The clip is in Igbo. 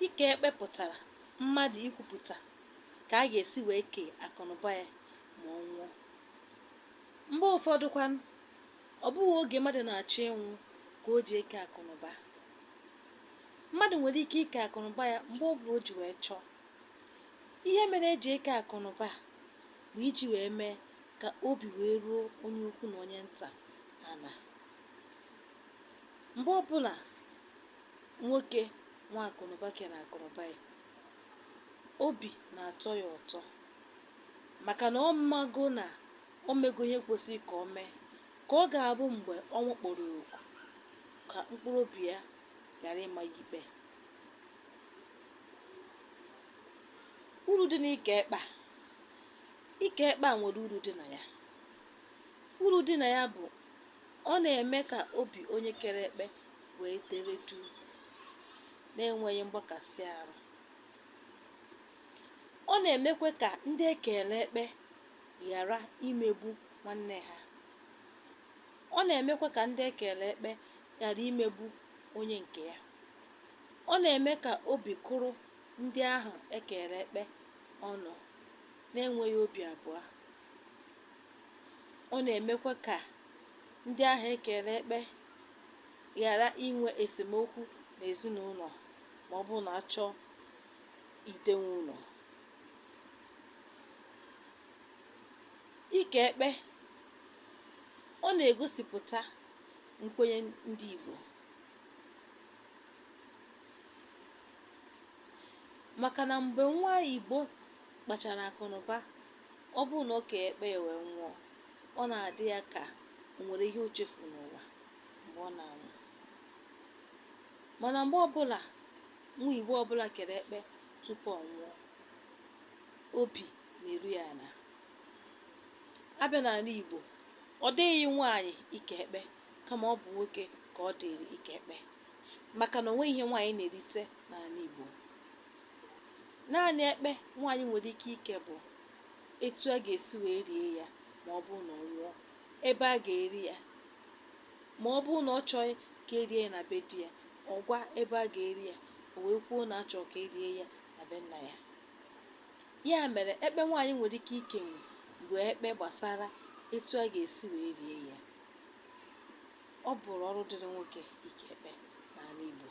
ike ekpe pụtara mmadụ ikwupụta ka a ga-esi wee kee akụnụba ya ma ọ nwụọ mgbe ụfọdụ kwanụ ọ bụghị oge mmadụ na-achọ ịnwụ ka o ji eke akụnụba mmadụ nwere ike ike akụnụba ya mgbe ọ bụla o ji wee chọọ ihe mere eji eke akụnụba bụ iji wee mee ka obi wee ruo onye ukwu na onye nta ala mgbe ọbụla nwoke nwe akụnụba kere akụnụba ya obi na-atọ ya ụtọ maka na ọ mago na o mego ihe kwesịrị ka o mee ka ọ ga-abụ mgbe ọnwụ kpọrọ ya oku ka mkpụrụ obi ya ghara ịma ya ikpe uru dị n'ike ekpe a ike ekpe a nwere uru dị na ya uru dị na ya bụ Ọ na-eme ka obi onye kere ekpe wee dere duu na-enweghị mgbakasị ahụ. Ọ na-emekwa ka ndị e keere ekpe ghara imegbu nwanne ha. Ọ na-emekwa ka ndị e keere ekpe ghara imegbu onye nke ya. Ọ na-eme ka obi kụrụ ndị ahụ e keere ekpe ọnụ na-enweghị obi abụọ. ọ na-emekwa ka ndị ahụ e keere ekpe ghara inwe esemokwu n'ezinụlọ ma ọ bụrụ na a chọọ idewe ụlọ ike ekpe ọ na-egosipụta nkwenye ndị Igbo maka na mgbe nwa Igbo kpachara akụnụba Ọ bụrụ na o keghị ekpe ya wee nwụọ, ọ na-adị ya ka o nwere ihe o chefuru n'ụwa mgbe ọ na-anwụ. Mana mgbe ọbụla nwa Igbo ọbụla kere ekpe tupu ọ nwụọ, obi na-eru ya ala. A bịa n'ala Igbo, ọ dịghịrị nwaanyị ike ekpe kama ọ bụ nwoke ka ọ dịịrị ike ekpe maka na o nweghị ihe nwaanyị na-erite n'ala Igbo. Naanị ekpe nwaanyị nwere ike ike bụ etu a ga-esi wee rie ya ma ọ bụrụ na ọ nwụọ, ebe a ga-eri ya ma ọ bụrụ na ọ chọghị ka e rie ya na be di ya, ọ gwa ebe a ga-eri ya, o wee kwuo na a chọrọ ka e rie ya na be nna ya. Ya mere ekpe nwaanyị nwere ike ikenwu bụ ekpe gbasara etu a ga-esi wee rie ya. Ọ bụrụ ọrụ dịrị nwoke ike ekpe n'ala Igbo.